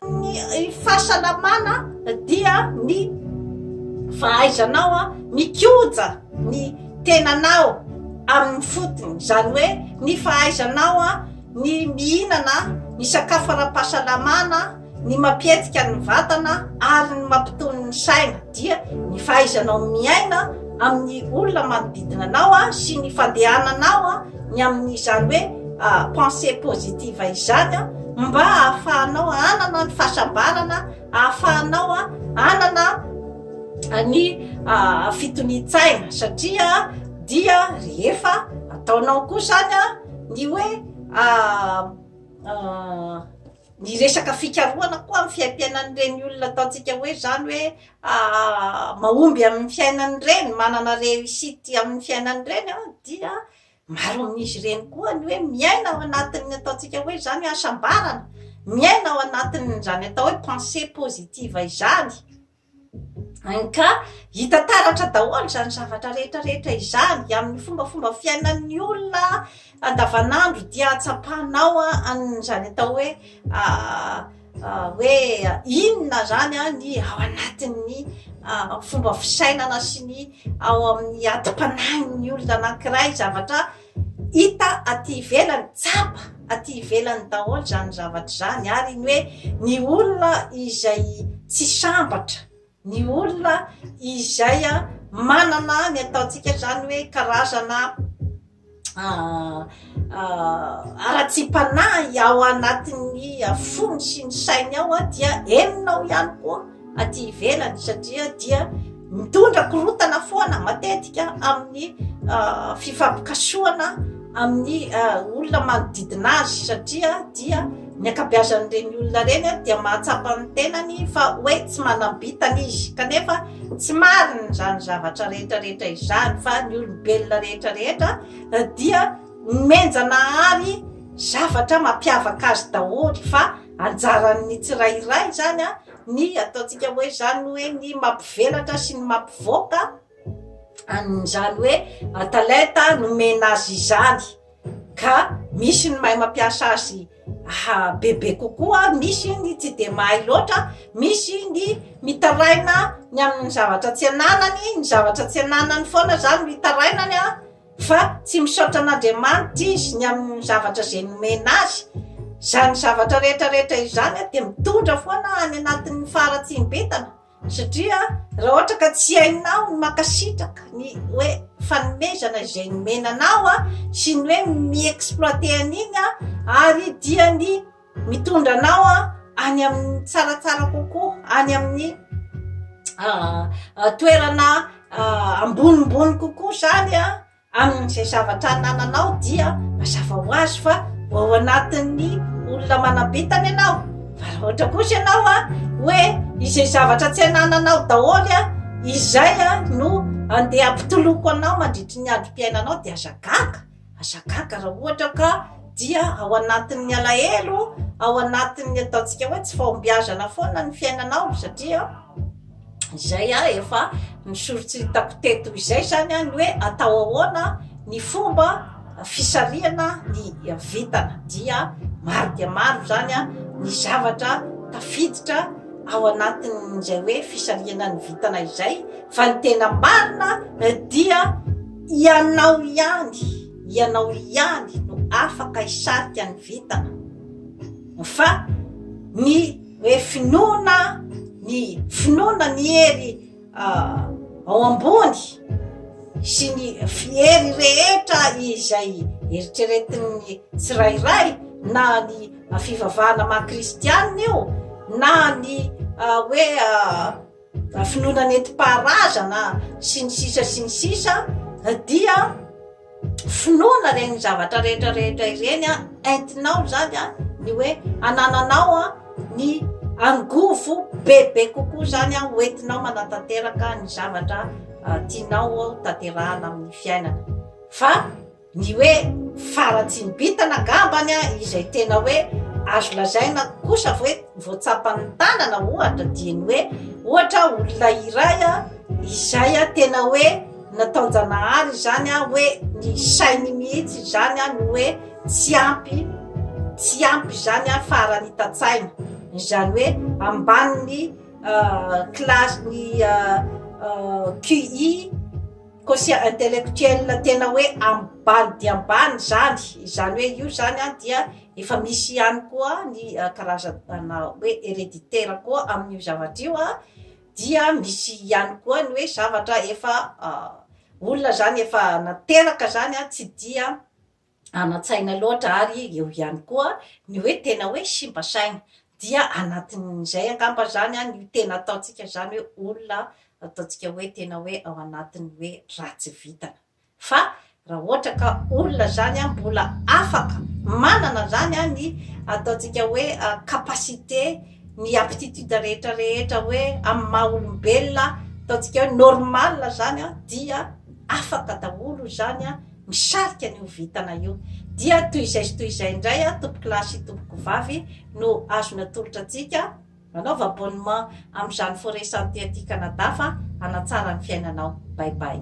Ny fahasalamana dia ny fahaizanao mikoja ny tenanao amin'ny fotony, izany hoe ny fahaizanao ny mihinana ny sakafo ara-pahasalamana, ny mampihetsika ny vatana ary ny mampitony ny saina. dia ny fahaizanao miaina amin'ny olona manodidina anao sy ny fandehananao ny amin'izany hoe pensée positive izany mba hahafahanao hanana ny fahasambarana, hahafahanao hanana ny fitonian-tsaina satria dia rehefa ataonao koa izany ny hoe. Ny resaka fikarohana koa amin'ny fiaim-piainan'ireny olona ataontsika hoe izany hoe mahomby amin'ny fiainany ireny, manana réussite amin'ny fiainany ireny an, dia maro amin'izy ireny koa ny hoe miaina ao anatin'ny ataontsika hoe izany hasambarana, miaina ao anatin'izany atao hoe pensée positive izany. Ka hita taratra daholo izany zavatra rehetra rehetra izany amin'ny fombafomba fiainan'ny olona andavanandro dia tsapanao an'izany atao hoe hoe inona zany a ny ao anatin'ny fomba fisainana sy ny ao amin'ny atim-panahin'ny olona anankiray zavatra Hita aty ivelany, tsapa aty ivelany daholo izany zavatra izany ary ny hoe ny olona izay tsy sambatra, ny olona izay manana ny ataontsika izany hoe karazana haratsiam-panahy ao anatin'ny fony sy ny sainy ao dia henonao ihany koa. aty ivelany satria dia mitondra korotana foana matetika amin'ny ah, fifampikasohana amin'ny ah, olona manodidina azy satria dia ny akabeazan'ireny olona ireny dia mahatsapa ny tenany fa hoe tsy manam-bitana izy kanefa tsy marina izany zavatra rehetrarehetra izany fa ny olombelona rehetrarehetra eh, dia menjanahary zavatra mampiavaka azy daholo fa Anjaran'ny tsirairay izany ny ataontsika hoe izany hoe ny mampivelatra sy ny mampivoaka an'izany hoe talenta nomena azy izany. Ka misy ny mahay mampiasa azy bebe kokoa, misy ny tsy dia mahay loatra, misy ny mitaraina ny amin'ny zavatra tsy ananany, ny zavatra tsy ananany foana izany no itarainany Fa tsy misaotra an'Andriamanitra izy ny amin'ny zavatra izay nomena azy. Izany zavatra rehetra rehetra izany dia mitondra foana any anatin'ny faharatsiam-bintana, satria raha ohatra ka tsy hainao ny mankasitraka ny hoe fanomezana izay nomena anao sy ny hoe mi-exploiter an'iny ary dia ny Mitondra anao any amin'ny tsaratsara kokoa, any amin'ny ah, ah, toerana ah, ambonimbony kokoa izany a amin'izay zavatra anananao dia mazava ho azy fa ho ao anatin'ny olona manam-pitana ianao fa raha ohatra kosa ianao a hoe izay zavatra tsy anananao daholo a izay a no andeha ampitoloko anao mandritry ny androm-piainanao dia aza gaga Aza gaga raha ohatra ka dia ao anatin'ny alahelo, ao anatin'ny ataontsika hoe tsy fahombiazana foana ny fiainanao satria izay a efa misoritry hitako teto izay zany a ny hoe atao ahoana ny fomba fisarihana ny vitana dia maro dia maro zany a ny zavatra tafiditra ao anatin'izay hoe fisarihana ny vitana izay fa ny tena marina dia Ianao ihany, ianao ihany no afaka hisarika ny vintana fa ny hoe finoana ny finoana ny hery ao ambony sy ny fiery rehetra izay eritreretin'ny tsirairay na ny fivavahana maha kristianina io na ny hoe na finoana nentim-paharazana sy ny sisa sy ny sisa dia finoana ireny zavatra rehetra rehetra ireny a entinao zany a ny hoe anananao a ny angovo bebe kokoa zany a hoentinao manatanteraka ny zavatra tianao ao tanterahana amin'ny fiainana fa Ny hoe faratsian'ny bintana angambany izay tena hoe azo lazaina kosa hoe voatsapan'ny tanana ohatra dia ny hoe ohatra olona iray izay tena hoe nataon-janahary izany hoe ny sainy mihitsy izany no hoe tsy ampy tsy ampy izany farany hitan-tsaina izany hoe ambanin'ny classe ny QI Quotient intellectuel tena hoe ambany dia ambany izany, izany hoe io izany an dia efa misy ihany koa ny karazana hoe hereditaire koa amin'io zavatra io an, dia misy ihany koa ny hoe zavatra efa olona izany efa nateraka izany an tsy dia anan-tsaina loatra ary eo ihany koa ny hoe tena hoe simba saina dia anatin'izay angamba izany no tena ataontsika izany hoe olona ataontsika hoe tena hoe ao anatin'ny hoe ratsy vintana fa raha ohatra ka olona izany mbola afaka manana izany ny ataontsika hoe capacité ny aptitude rehetra rehetra hoe amin'ny maha olombelona ataontsika hoe normal izany dia afaka daholo izany misarika an'io vintana io dia toy izay sy toy izay indray a tompokolahy sy tompokovavy no azo natolotra antsika manaova abonnement amin'izany foret santé aty Canada fa hanatsara ny fiainanao bye bye.